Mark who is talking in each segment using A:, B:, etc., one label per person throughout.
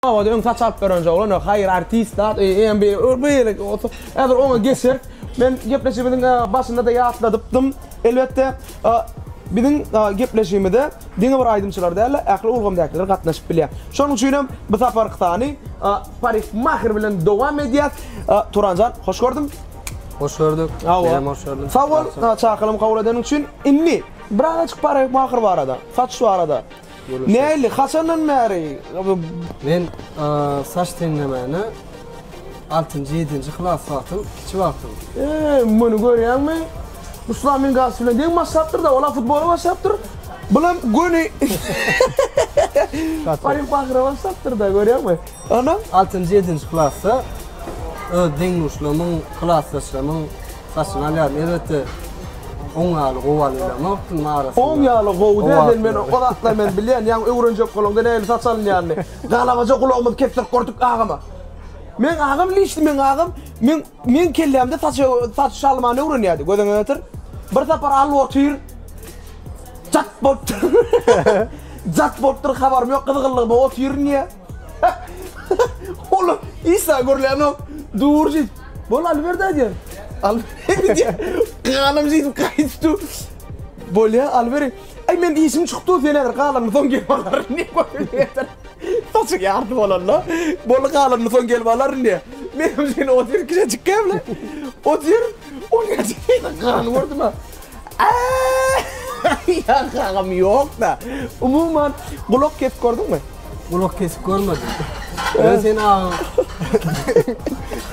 A: Owada öň saç alyp beren joglan ýok. Haýyr artist zat öýe eýýäm bir beýle otur. Häzir oňa geçer. Men gepleşigimiziň başynda-da ýatladypdym. Elbetde, biziň gepleşigimize diňe bir aýdymçylar däl-de, ähli ulgamdakylar gatnaşyp bilýär. Şonuň üçin hem bu saparky sany parikmaher bilen dowam edýäs. Turanjan, hoş gördüm. Hoş gördük.
B: Men hem hoş gördüm. Sag
A: bol,
B: çakylygymy
A: kabul edeniň üçin. Indi birazajyk parikmaher barada, saç barada Näli, haçandan bäri bu. Men
B: saç teňlemäne altynjy, ýedinji klas wagtym, kiçi wagtym. Eee, muny
A: görýäňmi? Ruslan men garşy bilen deň başlapdyr-da, ol-a futbola başlapdyr, bulam göni Baryp ahyra başlapdyr-da, görýäňmi? Onam. Altynjy, ýedinji
B: klasda öz deň-duşlarymyň, klasdaşlarymyň. Saçyny alýaryn elbetde. Oň ýaly gowy alylamok kim arasynda. Oň ýaly gowy däl
A: sen men o zatlar men bilýän ýaňy öwrenjek bolaňda nähili saç alynýanyny. Galabaja gulagymyzy kessek gördük agama. Meň agam lişdi meň agam meň meň kellämde saç saç şalmany öwrenýärdi gözüňe getir. Bir sapar alyp otyr jat bolupdyr jat bolupdyr habarym ýok gyzgynlygyma otyryn ýa. Ola Isa görlänok. Dur jit. Bol Alberdi aýdýan. Alberdi diýär. Galam jit gaýtdy. Bolýa Alberdi. Aý men işim çykdy sen häzir galanyny soň gelip alaryn diýip. Saçy ýarty bolanda. Bol galanyny soň gelip alaryn diýär. Menem sen otur kiçejik gämle. Otur. O nädip peýda garany gördüm-ä. Ýa agam ýok-da. Umuman gulak kesip gördüňmi? Gulak kesip görmedim.
B: Men seni agam.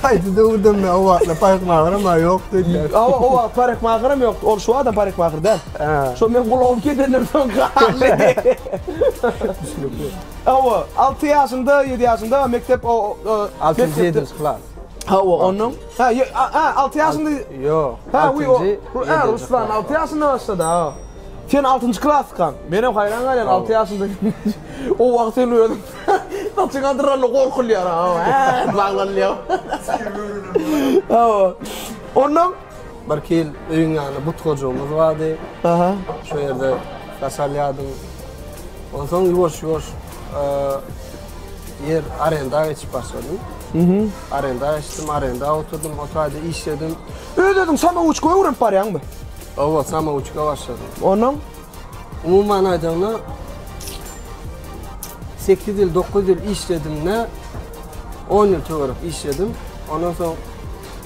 B: Haýsy döwürden-de o wagtlar parykmageram-a ýok diýdiler. Awa o wagt parykmageram
A: ýokdy. Ol şu adam parykmager däl. Şo meň gulagym kesenden soň galdy. Düşünikli. Awa, alty ýaşynda, ýedi ýaşynda mekdep o. Altynjy, ýedinji
B: klas. Ha o onun.
A: Ha ye- a- ha 6 yaşında. Yok. Ha we
B: o. altyncı,
A: Ha ýedinci Ruslan klas. 6 yaşında başladı ha. Sen 6. klaskan. Men hem hayran galyan 6 yaşında. o wagt sen özün saçyň adyranla gorkulýar ha. Ha baglanýar. Ha o. Ondan Bir kil
B: öýüň ýanyna but gojagymyz bardy. Aha. Şu ýerde daşalýardyň. Onsoň ýuwaş ýuwaş eee, Ýer arenda geçip başladym. Mhm. Arenda geçdim, arenda oturdym, otaýda işledim. Öz özüň samouçka
A: öwrenip barýaňmy? Owa, samouçka
B: başladym. Onuň
A: Umuman
B: aýdaňda 8 ýyl, 9 ýyl işledim-de 10 ýyl töwerek işledim. Ondan soň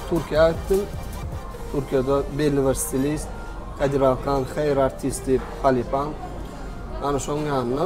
B: Türkiýä gitdim. Türkiýede belli bir stilist Kadir Alkan, Hair Artist diýip halypam. Ana şoň ýanynda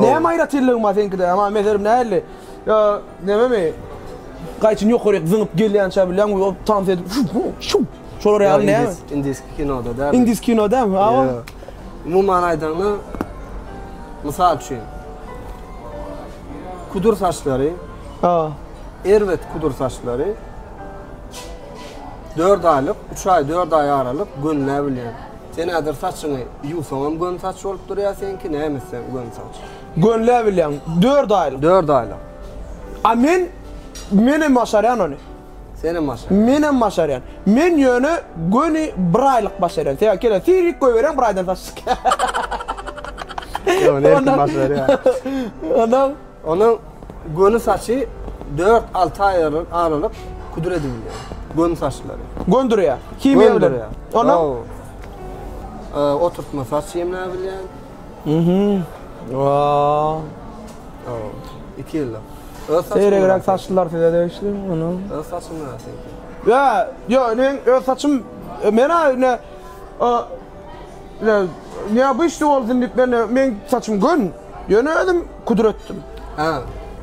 A: Näme aýratynlygy bar seňkide? Ama meserim nähili? Ýa nememi? Gaýçyny ýokaryk zyňyp gelýän şa bilýän we tans edip şup şup şup. Şolar ýaly näme? Indiski kinoda
B: däl. Indiski kino däl. Awa.
A: Umuman
B: aýdaňda mysal üçin kudur saçlary. Ha. Erbet kudur saçlary. 4 aýlyk, 3 aý, 4 aý aralyk gönüläbilýän. Sen häzir saçyňy ýuwsaňam göni saç bolup durýar seňki, näme etseň göni saç. Gönläbilýäň,
A: dört aýlyk. Dört aýlyk.
B: A men,
A: menem başarýan ony. Senem başarýan.
B: Menem başarýan.
A: Men ýöne göni bir aýlyk başarýan. Sebäbi kele sirik goýberýän bir aýdan saç çykýar. Ýok,
B: ony her kim başarýar. Ondan. Onuň göni saçy dört-alty aý aralyk küdür edilýär. Göni saçlary. Göndürýär.
A: Himiýa bilen. Ondan? Hawa. Oturtma
B: saç emläp bilýän. Mhm. Waw.
A: Hawa.
B: Iki ýyllyk. Seýregräk
A: saçlylar size degişli onuň. Öz saçyň
B: näteki? Ýa, ýok,
A: men öz saçym, men-ä indi Ýa ýa bu işde bolsun diýip men meň saçym gön. Ýöne özüm kudür etdim. Hä.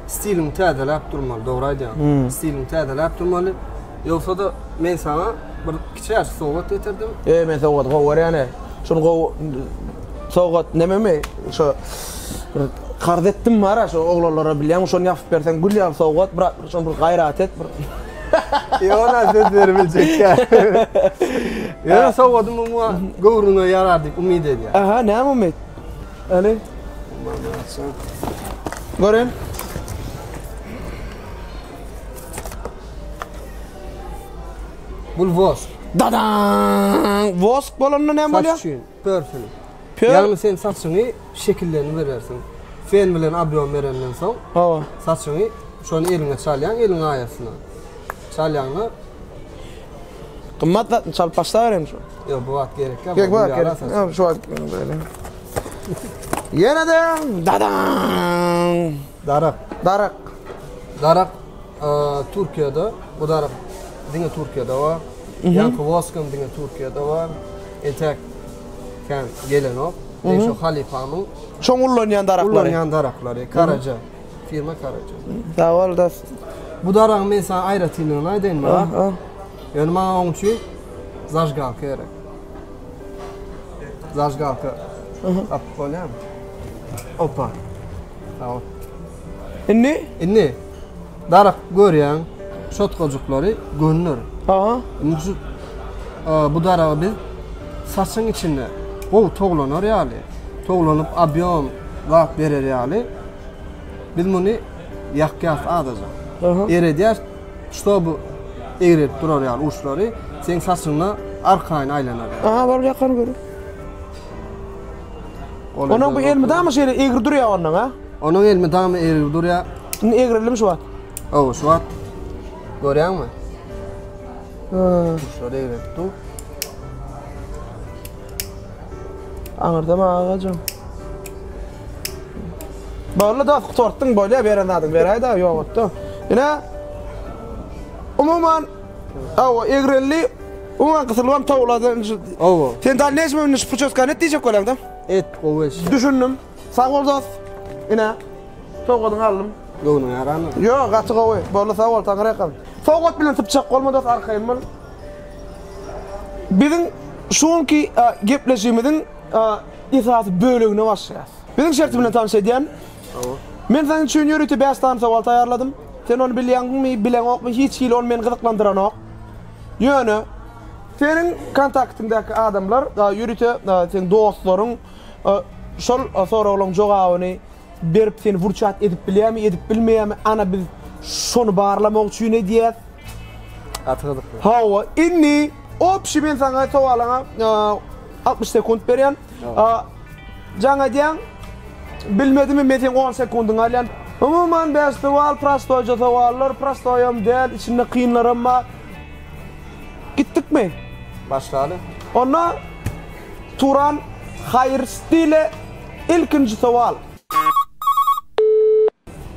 B: Stiliňi täzeläp durmaly, dogry aýdýaň. Stiliňi täzeläp durmaly. Ýogsa-da men saňa bir kiçäşik sowgat getirdim. Eý men sowgady gowy
A: görýän-ä. Şuny gowy sowgat nememi şo bir karz etdim bar-a şo oglanlara bilýäňmi şony ýapyp berseň gül ýaly sowgat brat. Şol bir gaýrat et bir. Ýona
B: söz berip biljek däl. Ýöne sowgadym umumy göwrüňe ýarar diýip umyt edýän. Aha, näme umyt?
A: Äli. Gören.
B: Bul vosk. Dadaň!
A: Vosk bolanda näme bolýar? Saç üçin.
B: Pörfin. Pör. Ýagny sen
A: saçyňy
B: şekillerini berersiň. Fen bilen obýom berenden soň. Hawa. Saçyňy şony eliňe çalýaň, eliň aýasyna. Çalýaňda.
A: Gymmat zatmy çalyp başlaberem şu. Ýok, bu wagt gerek ýok.
B: Gerek bu wagt gerek. Ýok, şu
A: wagt. Ýene-de dadaň. Darak.
B: Darak.
A: Darak
B: Türkiýede, bu darak diňe Türkiýede bar. Ýaňky Voskam diňe Türkiýede bar. Entek kän gelenok. Men şu halypamyň Şoň ullanýan
A: daraklary. Ullanýan daraklary
B: Karaja. Firma Karaja. Sawal da.
A: Bu daragyň
B: men sana aýratynlygyny aýdaýyn Murat.
A: Ýöne
B: maňa
A: oň
B: üçin zajgalka gerek. Zajgalka. Tapyp bolýarmy? Opa. Sag bol.
A: Indi? Indi
B: darak görýäň şotkajyklary gönler. Aha. Indi
A: şu
B: bu daragy biz saçyň içinde gowy toglanar ýaly, toglanyp obýom zat berer ýaly biz muny ýakýas adaja. Aha. Eredýäs, ştoby egrip durar ýaly uçlary seň saçyňda arkaýyn aýlanar. Aha, bar ýakar görüň.
A: Onuň bu elmydama şeýle egri durýa ondan a? Onuň elmydama
B: egri durýa. Indi egrildim şu wagt.
A: Ow, şu wagt.
B: Görýäňmi?
A: Ha. Şol egri
B: dur.
A: Aňyrdam agajam. Bagla da sortdun bolýa beren zadyň beräýdä ýogatda. Ine. Umuman Hawa, egreldi. Oňanky sylwam towlady. Hawa. Sen da
B: näçe münde şu
A: puçotkany et diýjek bolýaň-da? Et, gowy eş.
B: Düşündim.
A: Sag bol dost. Ine. Sowgadyňy aldym. Göwnüň ýaramy?
B: Ýok, gaty gowy.
A: Boldy, sag bol, taňry ýakalsyn. Sowgat bilen sypjak bolma dost, arkaýyn bol. Biziň şu günki gepleşigimiziň esasy bölegine başlaýas. Biziň şerti bilen tanyş edýän. Men saň üçin ýörite bäş sany sowal taýýarladym. Sen ony bilýäňmi, bileňokmy, hiç hili ol meni gyzyklandyranok. Ýöne. Seniň kontaktyňdaky adamlar, ýörite seň dostlaryň şol soraglaň jogabyny berip seni wurçat edip bilýärmi, edip bilmeýärmi, ana biz şony barlamak üçin edýäs. Gaty
B: gyzykly. Hawa,
A: indi, obşi men saňa sowalyňa altmyş sekunt berýän. A Jaň edýäň, bilmedimi men seň on sekundyňy alýan. Umuman bäş sowal prostoýja sowallar, prostoýam däl, içinde kynlaram bar. Gitdikmi? Başlaly.
B: Onda
A: Turan Haýyrsdile ilkinji sowal.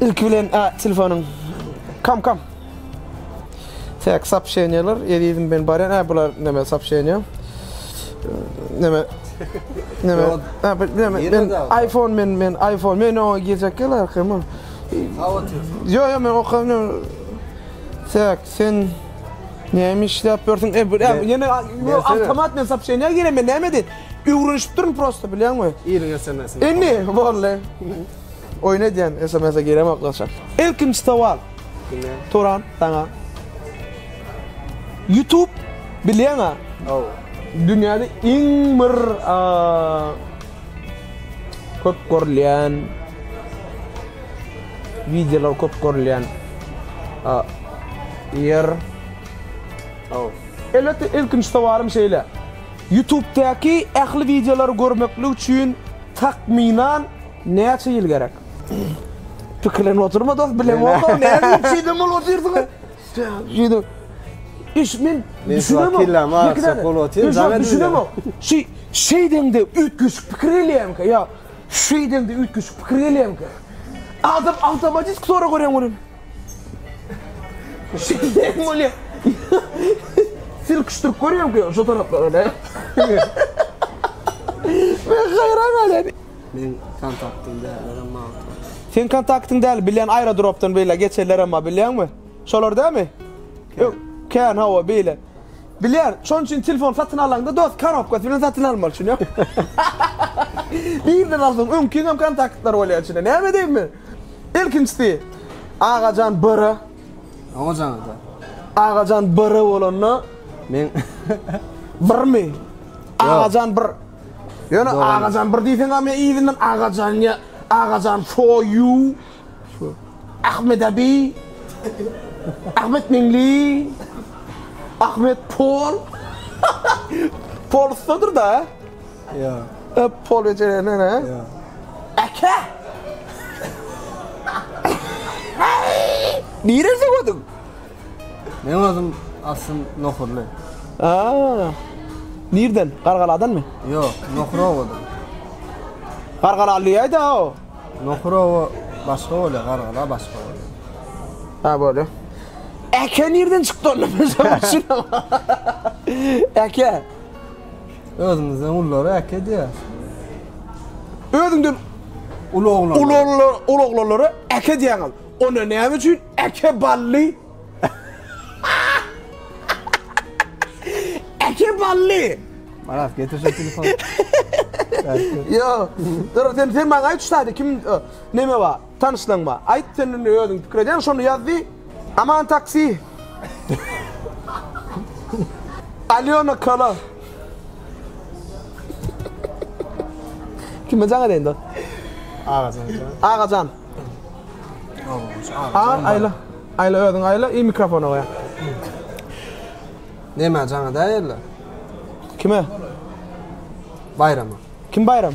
A: Ilki bilen a telefonyň kam kam. Tek sapşeniýalar ezizim ben barýan a bular neme sapşeniýa. Neme neme a bir neme men iPhone men men iPhone men oňa girjek ýaly arkama. Ýo ýo men okam ýo. Tek sen näme işläp ýörsüň e bu ýene ýo awtomat men sapşeniýa giremen näme edin. Öwrenişip durun prosta bilýäňmi? Iriň SMS-ini.
B: Indi bolly.
A: Oýun edýän SMS-e giremok gaçak. Ilkinji sowal. Diňe. Turan saňa. YouTube bilýäňä?
B: Ow. Dünýäde
A: iň bir köp görülýän wideolar köp görülýän ýer.
B: Ow. Elbetde
A: ilkinji sowalym şeýle. Ýutubdaky ähli wideolary görmeklik üçin takmynan näçe ýyl gerek? Pikirlenip otyrma dos, bileňok-ow, nädip şeýle bolup otyrsyňyz? Şeýdip, iş men düşünemok. Ýok, düşünemok. Şeý, şeýdeňde üýtgeşik pikir gelýärmikä? Ýa şeýdeňde üýtgeşik pikir gelýärmikä? Adam awtomatik sorag berýän welin. Şeýdem bolýar. Sirk ştürk görýärmikä şu taraplara ne? Men haýran galýan. Men kontaktym däldir
B: emma. Sen kontaktyň
A: däl, bilýän aýrodropdan beýle geçerler emma bilýäňmi? Şolar dälmi? Ýok, kän hawa beýle. Bilýän, şonuň üçin telefon satyn alaňda dost korobkasy bilen satyn almaly şuny. Birden alsaň öňkiňem kontaktlar bolýar içinde. Näme edeýin men? Ilkinjisi Agajan Bora. Agajan
B: da. Agajan
A: Bora bolanda men birmi? Agajan bir. Ýöne Agajan bir diýseň hem ýa Agajan ýa Agajan for you. Ahmet abi. Ahmet Meňli. Ahmet Pol. Pol ussadyr da.
B: Ýa. Öp pol
A: ejelerden he. Ýa.
B: Eke!
A: Niresi gödüň?
B: Meň özüm aslym nohurly. Aa.
A: Nirden? Gargaladanmy? Ýok, Nohurowadan.
B: Gargalalyýaýda
A: o. Nohurowa
B: başga bolýar, Gargala başga bolýar. Ha
A: bolýa. Eke nirden çykdy onda? Eke.
B: Özümizden ullary äkedýäs. Özüňden
A: uly oglanlary. Uly
B: oglanlary, uly oglanlary
A: äkedýäňiz. Onda näme üçin äke bally? äke bally. Marat getir şu
B: telefony.
A: Yo, dur sen sen maňa aýt şu taýda kim neme bar? Tanyşlanma. Aýt sen indi özüň pikir edýäň şony ýaz diý. Aman taksi. Alýona kola. Kime jaň edeýin dost?
B: Agajan jan.
A: Agajan. A aýla. Aýla özüň aýla i mikrofona goýaň.
B: Nämä jaň edäýerler? Kime? Baýrama. Kim Baýram?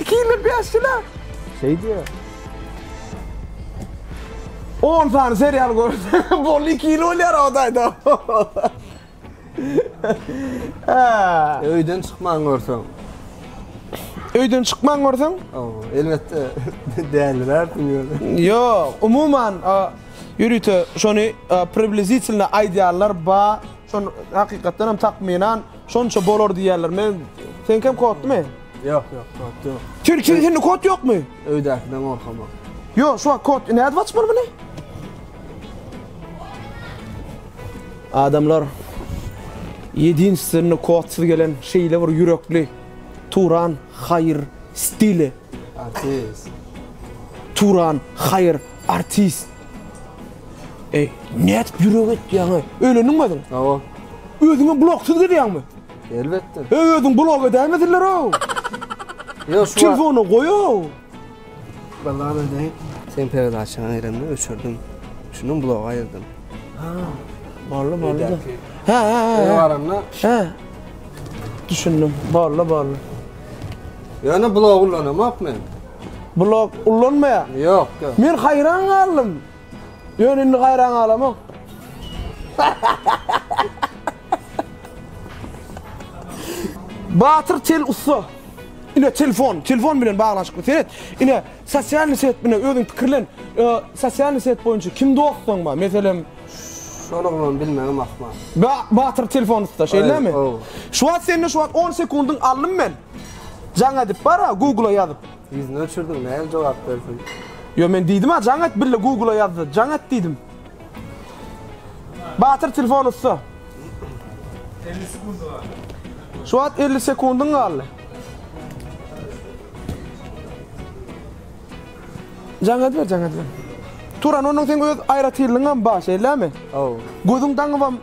A: Iki ýyl bäş ýyla. Şeý diýýär. On sany serial görse bol iki ýyl bolýar odaýda.
B: Öýden çykman görseň.
A: Öýden çykman görseň? Ow, elbetde
B: däliler diýýär. Ýok, umuman
A: ýörite şony približitelno aýdýanlar ba. Şon hakykatdan hem takmynan şonça bolar diýýärler. Men seňkem kodmy? Ýok, ýok,
B: kod ýok. Türkiýede
A: hende kod ýokmy? Öýdäkiden gorkamak.
B: Ýok, şu wagt kod
A: nädip açmaly muny? Adamlar ýedinstweniý kodsyz gelen şeýle bir ýürekli Turan Haýyr stili. Artist. Turan Haýyr Artist. Eý, nädip ýürek etýäň, eý? Öýlendiňmi özüň? Hawa.
B: Özüňem bloksyz
A: gezýäňmi? Elbetde. Eý,
B: özüň blok
A: edäýmesinler-ow.
B: Ýok, şu. Telefony goý-ow.
A: Balla
B: ödeý. Sen peredaçany aýranda öçürdim. Şundan blogy aýyrdym. Ha.
A: Balla, balla. Ha, ha,
B: ha. Öýe
A: baranda. Ha. Düşündim. Balla, balla.
B: Ýöne blok ulanamok men. Blog
A: ullanmaýaň? Ýok, ýok. Men
B: haýran
A: galdym. Ýöne indi haýran galamok. Batyr tel ussa. Ine telefon, telefon bilen baglanyşykly. Seret, ine sosial set bilen özüň pikirlen. Sosial set boýunça kim dostuň bar? Meselem, şol
B: oglany bilmegim ahmal. Batyr telefon
A: ussa, şeýlemi? Şu wagt sende şu wagt 10 sekundyň aldym men. Jaň edip bara Google-a ýazyp. Ýüzüni öçürdiň näme
B: jogap bersin. Ýo men diýdima
A: jaň et bille Google-a ýazdy jaň et diýdim. Batyr telefon ussa.
C: Elli sekundy galdy. Şu wagt
A: elli sekundyň galdy. Jaň ediber jaň ediber. Turan onuň seň öz aýratynlygyňam bar şeýlemi? Haw. Gözüň daňybam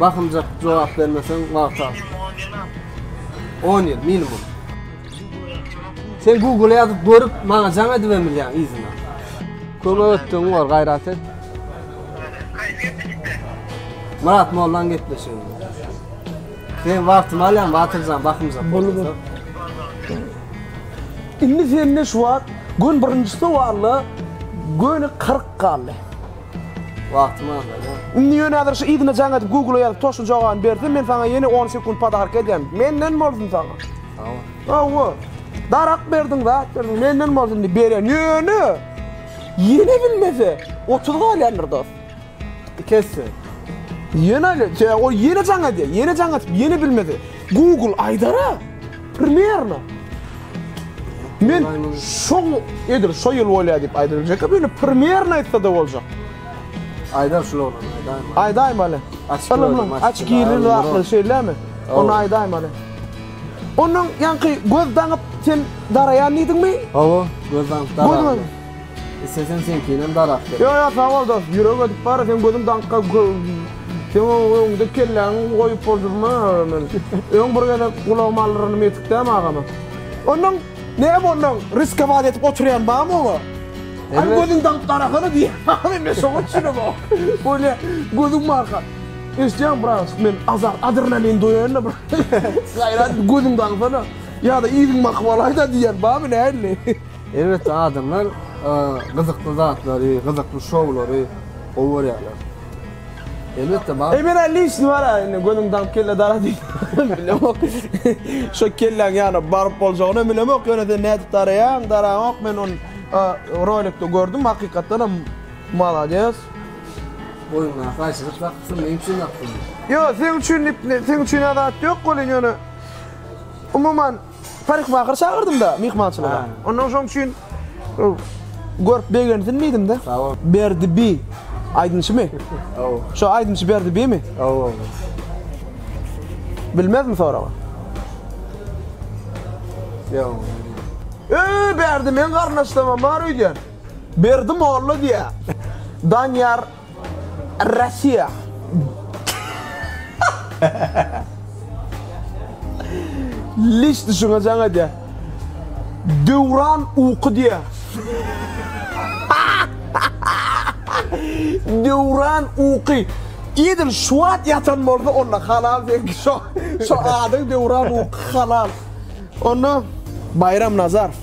B: Bakymjak jogap bermeseň wagt al. On ýyl minimum. Sen Google ýazyp görüp maňa jaň edibem bilýäň yzyna. Kömek etdigiň bar gaýrat et. Murat Mollan gepleşigini. Sen wagtymy alýan Batyrjan bakymjak.
A: Indi sende şu wagt gün birinjisi walla göni 40 galdy.
B: Wagtym azalýar. Indi ýöne häzir şu
A: yzyna jaň edip Google-a ýazyp toşly jogabyny bersem men saňa ýene on sekunt padaarka edýän. Menden bolsun saňa. Hawa. Hawa. Darak berdiň zat berdiň menden bolsun diýip berýän. Ýöne ýene bilmese otuz galýandyr dost. Iki esse. Ýene ýene jaň edýär. Ýene jaň edip ýene bilmese Google aýdara. Primerno. Men şo edir, şo ýyl bolýar diýip aýdyljak. Böyle primerno aýtsa da boljak. Aýda
B: şul oglan, aýdaýma.
A: Aýdaýma ale. Ylymlyň aç giril wagtly şeýlemi? Onu aýdaýma ale. Onuň ýaňky göz daňyp sen daraýan diýdiňmi? Hawa, göz
B: daňyp daraýan. Isteseň seňkinem darak ber. Ýo ýo sagol dos
A: ýürek edip bara seň gözüň daňka seň öňde kelläňi goýup boljurma men öň bir gezek gulagyma aldyranym ýetik dämi agama. Onnoň näme onnoň riskowat edip oturýan bamy oňa Aý gözüň daňyp garasana diýýän agamy men şoňa düşünem ok bu ne gözüň barka eşitýäňmi brawoçka men azar adrenalin doýaýynda bir gaýrat et gözüň daňsana ýa-da yzyň bakyp alaýda diýýän bamy nähili. Elbetde
B: adamlar gyzykly zatlary, gyzykly şowlary gowy görýärler. Elbetde bar. Ey men elli işini var ya
A: indi gözüm dağıp kelle dara değil. Bilemok. Şu kellen yani barıp bolacağını bilemok. Yöne sen ne edip darayan darayan ok ben on rolikte gördüm hakikaten hem malades.
B: Boyunla kaçırıp baktın ne için baktın? Yo sen
A: için sen için adat yok kolin yöne. Umuman Parykmaker çagyrdym-da myhmançylyga. Onnoň şoň üçin görüp begensin diýdim-de. Berdi bi aýdymçymy? Şo aýdymçy Berdi bimi? Bilmezmi soragy?
B: Öý
A: Berdi meň garyndaşlamam bar öýdýän. Berdi molla diýýär. Danyýar. Russiýa. Liş düşüne jaň edýär. Döwran uky diýýär. Döwran uky. Edil şu wagt ýatan bolsa onda halal seňki şo. Şo adyň Döwran uky halal. Onda Baýram Nazarow.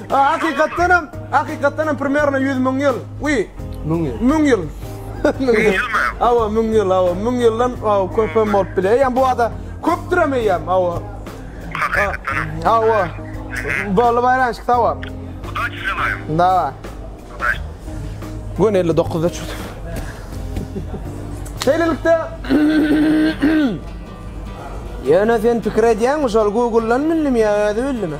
A: A hakykatdanam, hakykatdanam primerno ýüz müň ýyl. Wi. Müň ýyl. Müň ýyl. Müň ýylmy? Hawa, müň ýyl, hawa. Müň ýyldan hawa köp hem bolup biler. Eýýäm bu ada köpdürem eýýäm, hawa. Hakykatdanam. Hawa. Boldy baýramçyk, hawa. Udaçi
C: želaýym. Dawa. Udaçi.
A: Gün elli dokuzda çyk. Şeýlelikde Ýöne sen pikir edýäňmi şol Google-dan bildim ýa özi bildimi?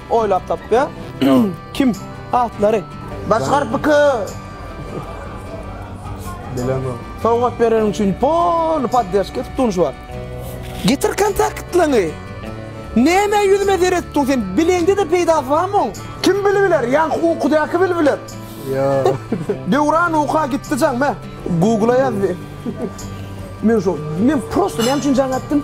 A: Oýlap tapýa. Kim? Atlary. Başgar piki.
B: Bilemok. Sowgat bereniň
A: üçin poly poddeşki tutunç bar. Getir kontaktlaňy. Nämä ýüzüme zeret tutun sen bileňde-de peýdasy barmy oň. Kim bili biler ýa ukudaky bili biler. Ýok.
B: Döwran
A: uka gitdi jaň me. Googla ýaz di. Men şo men prosta näme üçin jaň atdym.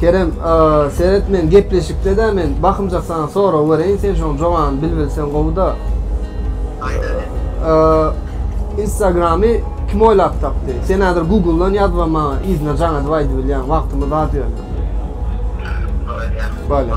B: Kerem, seret men gepleşikde-dä men bakymjak saňa sorag bereýin, sen şoň jogany bilbilseň gowy-da. Instagramy kim oýlap tapdy? Sen häzir Google-dan ýazba maňa yzyna jaň edip aýdybilýäň, wagtymyz az ýöne. Bolýa.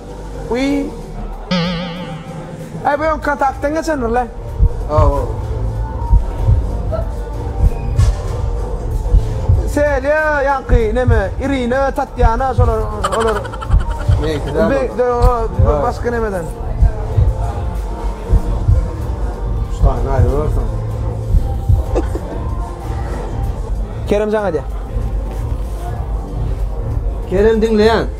A: Wiý. Aý bu öňki kontaktyň geçendir le.
B: Hawa.
A: Selýa ýaňky neme Irina Tatýana şolar olar.
B: Meňki däl olar. Be o başga
A: nemeden. Şaýyny
B: aýrybersin.
A: Keremjan aýdýar.
B: Kerem diňleýän.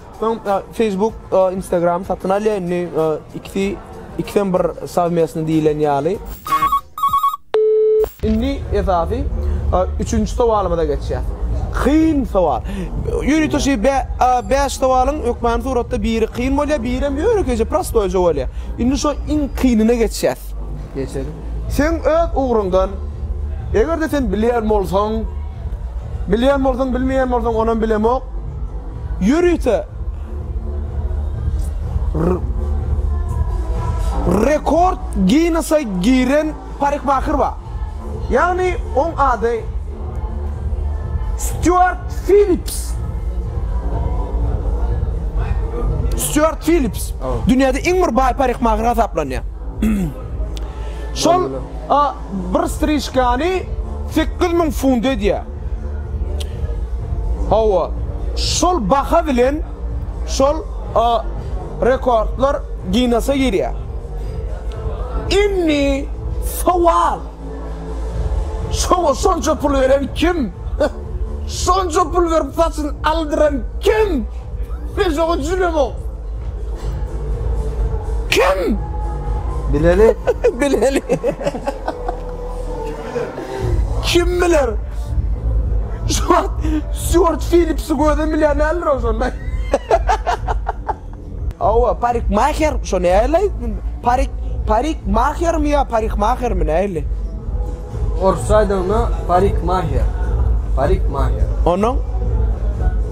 A: Soň Facebook Instagram satyn alýa indi ikisi ikisem bir sowmestny diýilen ýaly. Indi esasy üçünji sowalymyza geçýäs. Kyn sowal. Ýörite şi bäş sowalyň hökmany suratda biri kyn bolýa birem ýönekeýje prostoýja bolýa. Indi şo iň kynyna geçýäs. Geçeliň.
B: Seň öz
A: ugruňdan egerde sen bilýän bolsaň, bilýän bolsaň bilmeýän bolsaň onam bilemok. Ýörite rekord Ginnesa giren parikmaher bar. Ýagny oň ady Stýuart Fillips. Stýuart Fillips dünýäde iň bir baý parikmaher hasaplanýar. Şol a bir striçkany sekiz müň funt edýär. Hawa, şol baha bilen şol a rekordlar Ginnese girýär. Indi sowal. Şoňa şonça pul beren kim? Şonça pul berip saçyny aldyran kim? Men şoňa düşünemok. Kim? Bileli.
B: Bileli.
A: Kim biler? Şu wagt Stewart Phillips'i gözüm bilen näler olsun. Hawa, parikmaher, şo nähili aýdym? Parik, parikmahermi ýa parikmahermi nähili? Orsça
B: aýdanyňda parikmaher. Parikmaher.
A: Onuň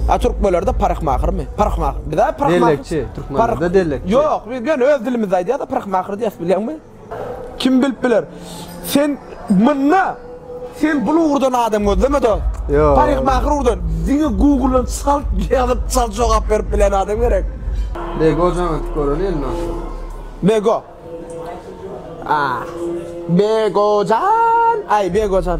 A: A türkmenlerde parykmahermi? Parykmaher. Bizde parykmaher. Dellekçi, türkmenlerde
B: dellekçi. Ýok, biz ýöne öz
A: dilimizde aýdýarys, parykmaher diýýäs, bilýäňmi? Kim bilip biler. Sen mynna Sen bul ugurdan adam gözleme dost. Ýok. Paryhmahyr
B: ugurdan.
A: Diňe Google-dan çal ýazyp çal jogap berip bilen adam gerek. Bego jaň
B: atyp göreli indi onsoň. Bego.
A: Aah. Begojan. Aý Begojan.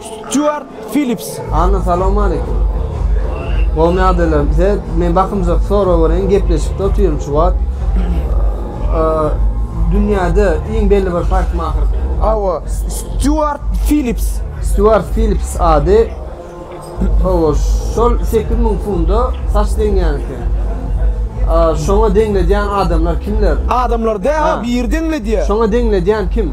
A: Stýuart Fillips. Anna salawmaleýkim.
B: Gowymy ýagdaýlaryň bize men bakymjak sorag bereýin gepleşikde otyryn şu wagt. Dünýäde iň belli bir parykmaher kim? Hawa
A: Stýuart Fillips. Stýuart Fillips ady
B: hawa şol sekiz müň funda saç deňýän eken. Şoňa deňledýän adamlar kimler? Adamlar däl ha
A: biri deňledýär. Şoňa deňledýän kim?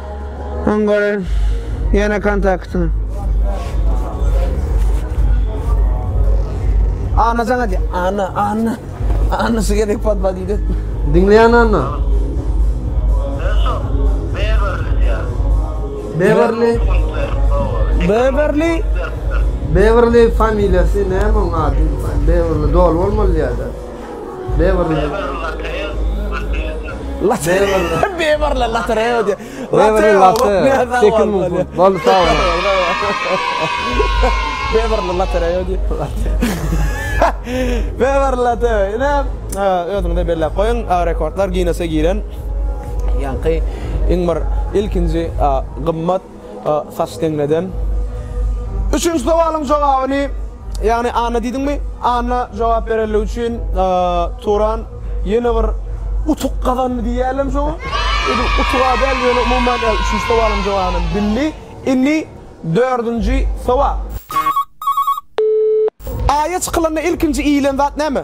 B: Öň
A: gören ýene kontakty. Anna sana diye. Anna, Anna. Anna şu gerek patma diye. Dinleyen Anna.
B: Beverly. Beverly. Beverly familyası ne mon adı? Beverly doğru olmalı ya da. Beverly.
A: Beverly Latreo diýe. Beverly Latreo.
B: 8000 funt. Bol sag bol. Beverly
A: Latreo diýe. Beverly Latreo. Ine, özüňde belläp goýuň, rekordlar Ginnese giren. Ýaňky iň bir ilkinji gymmat Saç deňleden. Üçünji sowalyň jogabyny, ýagny Anna diýdiňmi? Anna jogap berenligi üçin Turan ýene bir utuk gazandy diýýärlermi şoňa? Özi utuga däl, ýöne umuman üçünji sowalyň jogabyny bildi. Indi dördünji sowal. Aýa çykylanda ilkinji iýilen zat näme?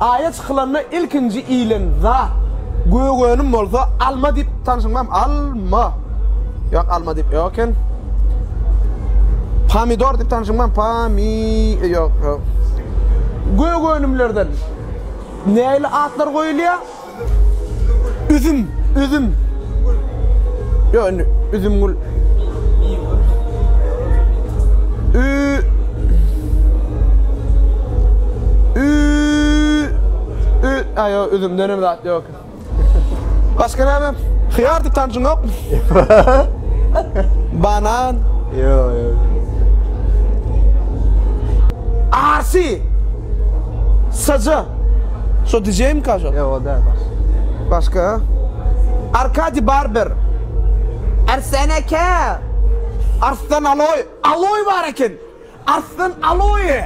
A: Aýa çykylanda ilkinji iýilen zat gök önüm bolsa alma diýip tanşyňdam alma ýok alma diýip ýok eken pomidor diýip tanşyňdam pomi ýok ýok gök önümlerden näli atlar goýulýar Üzüm, üzüm. Yo indi üzüm gül. Ü Ü Ü ayo üzüm dönem zat yok. Başka ne mi? Hıyar tip tanışın yok mu? Banan. Yo yo. Arsi. Sacı. Şo DJ-mika şo? Ýok o däl başga.
B: Başga?
A: Arkadi Barber. Arslan aka! Arslan Aloý. Aloý bar eken. Arslan Aloý.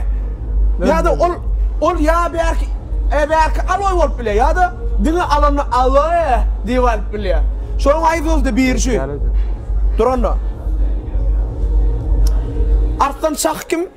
A: Ýa-da ol ol ýa bärki e, bärki Aloý bolup bilýär ýa-da diňe alanda Aloý diýip alyp bilýär. Şonuň aýdyldy biri şu. Dur onda. Arslan Şah kim?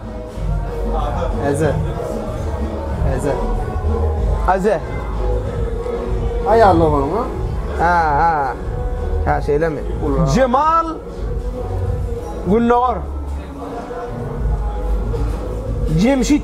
B: Eze. Eze.
A: Aze.
B: Aýal oglan ha? Ha ha. Ha
A: şeýlemi? Jemal Gündogar. Jemşit.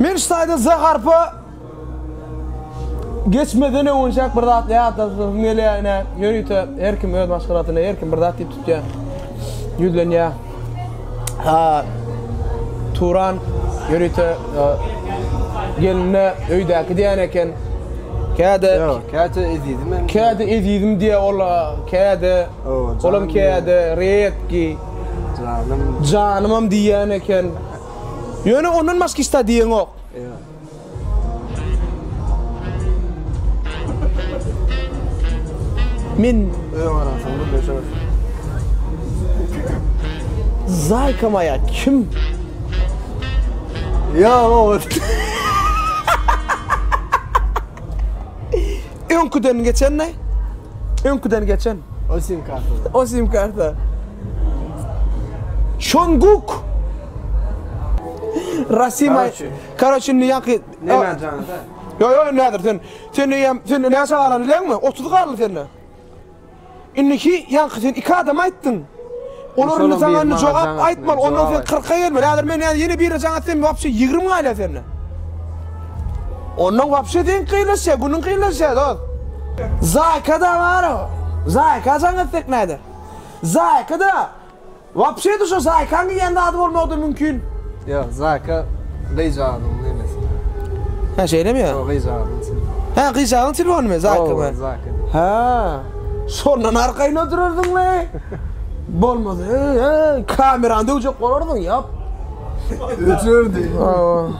A: Men şu taýda Z harpa geçmeden öňünçäk bir zat ýatlasyň gelýär ine. Ýörite her kim öz maşgalasyna, her kim bir zat diýip tutýar. Ýüzlenýär. Ha. Turan ýörite e, gelinle öýdäki diýen eken. Käde, Ýok, käte ezizim hem. käde ezizim diýe ol, käde Olam käde redki, janymam diýýän eken. Ýöne ondan başga hiç zat diýeňok. Men öýe garaşan bir beşe bar. Zaýka maýa kim?
B: Ýa o.
A: Öňküden geçen ne? Öňküden geçen.
B: O sim karta.
A: O sim karta. Şonguk. Rasim ay. Karoçi ne yakı? Ne ben canım?
B: Yo yo nedir sen? Sen ne
A: yem? Sen ne yaşa alan bilen mi? 30 karlı sen ne? Indiki ýaňky sen iki adama aýtdyň. Olar indi saňa indi jogap aýtmaly, ondan sen kyrka gelmeli. Häzir men ýene birine jaň atsam wapşe ýigrimi galýar senden. Ondan wapşe seňki kynlaşýar, günüň kynlaşýar dost. Zaýka-da bar-a. Zaýka jaň etsek näder? Zaýka-da. Wapşe de şo Zaýkaň iýen zady bolmagyda mümkin. Ýok, Zaýka
B: gyjagynyň nemesi. Hä,
A: şeýlemi ýa? Şo gyjagynyň
B: telefony. Hä, gyjagyň
A: telefonymy, Zaýka me? Zaýka. Hä. Şondan arkaýyn oturardyň le. Bolmasa, hä, kamerany döwjek bolardyň, ýap.
B: Öçürdi.
A: Hawa.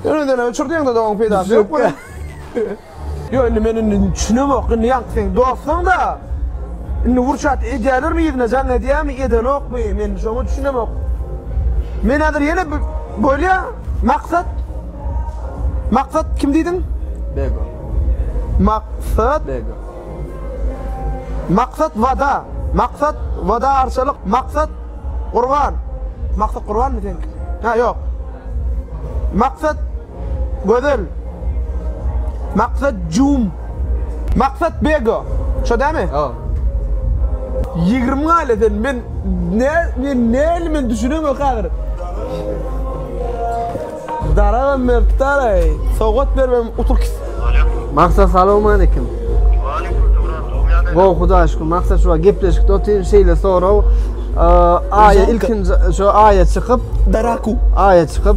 A: Ýöne öçürdiň-de, doň peýdasy ýok. Ýöne men indi düşünemok, indi ýaňky seň dostuňda. Indi wurçat edýälermi yzyna jaň edýämi edenokmy men şoňa düşünemok. Men häzir ýene bolýa Maksat Maksat kim diýdiň? Bego. Maksat Bego. Maksat Wada. Maksat Wada Arçalyk. Maksat Gurban. Maksat Gurbanmy seňki? Ha ýok. Maksat Gözel. Maksat jum. Maksat bego. Şo dämi? Hawa. Ýigrimi galä sen men ne men näli men düşünemok hazir. Daragam beripdaraý. Sowgat bermem utup git. Maksat
B: salowmalikim. Gowy hudaýa şükür maksat şu gepleşikde otyr şeýle sorag aýa ilkinji şu aýa çykyp daraku aýa çykyp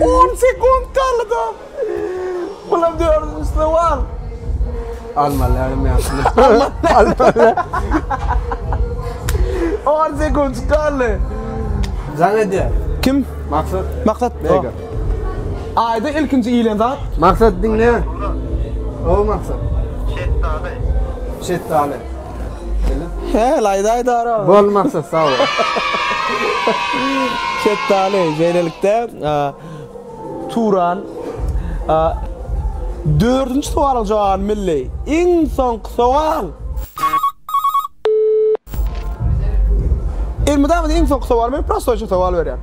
A: On sekund kaldy. Bulam dördüncü sowal.
B: Almalarym ýaşyny. Almalar.
A: On sekund kaldy. Jan
B: edýär. Kim?
A: Maksat. Maksat. Mega. Aýda ilkinji iýilen zat. Maksat diňle.
B: O maksat. Şetdaly. Şetdaly.
A: He, laýda aýdar aga. Bol Maksat, sag bol. Şetdaly, şeýlelikde, Turan, dördünji sowalyň jogabyny bildi. Iň soňky sowal. Elmydama iň soňky sowal, men prostoýça sowal berýän.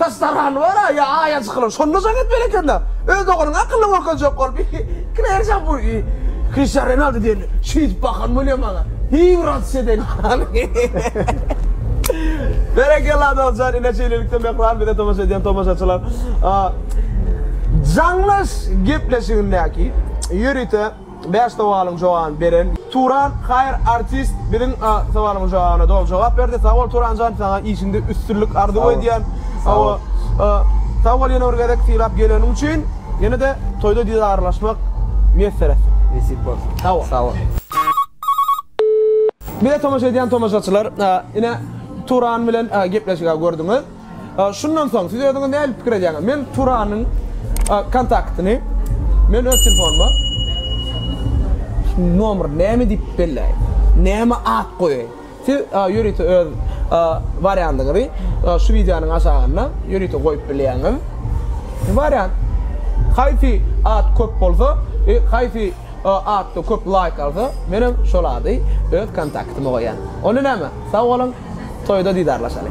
A: Daş dargany bar-a, ýa aýa çykylan, şonda jaň etmeli eken-dä. Öz ogluňa akylly görkezjek bolup, kireýärsiň-a bu Kriştian Renaldo diýen şeýdip bakan bolýa maňa. Hiý wraç eden ýaly. Berekella dosjan ine şeýlelikde Mehran bize tomaşa edýän tomaşaçylar jaňlaş gepleşigindäki ýörite Bäş sowalyň jogabyny beren. Turan haýyr artist biziň sowalyň jogabyna doly jogap berdi sag bol Turanjan saňa işiňde üstünlik arzuw edýän hawa sag bol ýene bir gezek sylap geleniň üçin ýenede toýda dizarlaşmak miýesser etsin nesip bolsa
B: sag bol sag bol.
A: Bize tomaşa edýän tomaşaçylar ine Turan bilen gepleşigi gördiňiz. Şundan soň siz özüňiz nähili pikir edýäňiz? Men Turanyň kontaktyny men öz telefonuma nomry näme diýip belläýin? Näme at goýaýyn? Siz ýörite öz wariantyňyzy şu wideonyň aşagynda ýörite goýup bilýäňiz. Wariant. Haýsy at köp bolsa, haýsy atda köp laýk alsa, menem şol ady öz kontaktyma goýýan. Onda näme? Sag boluň! Toýda didarlaşaly.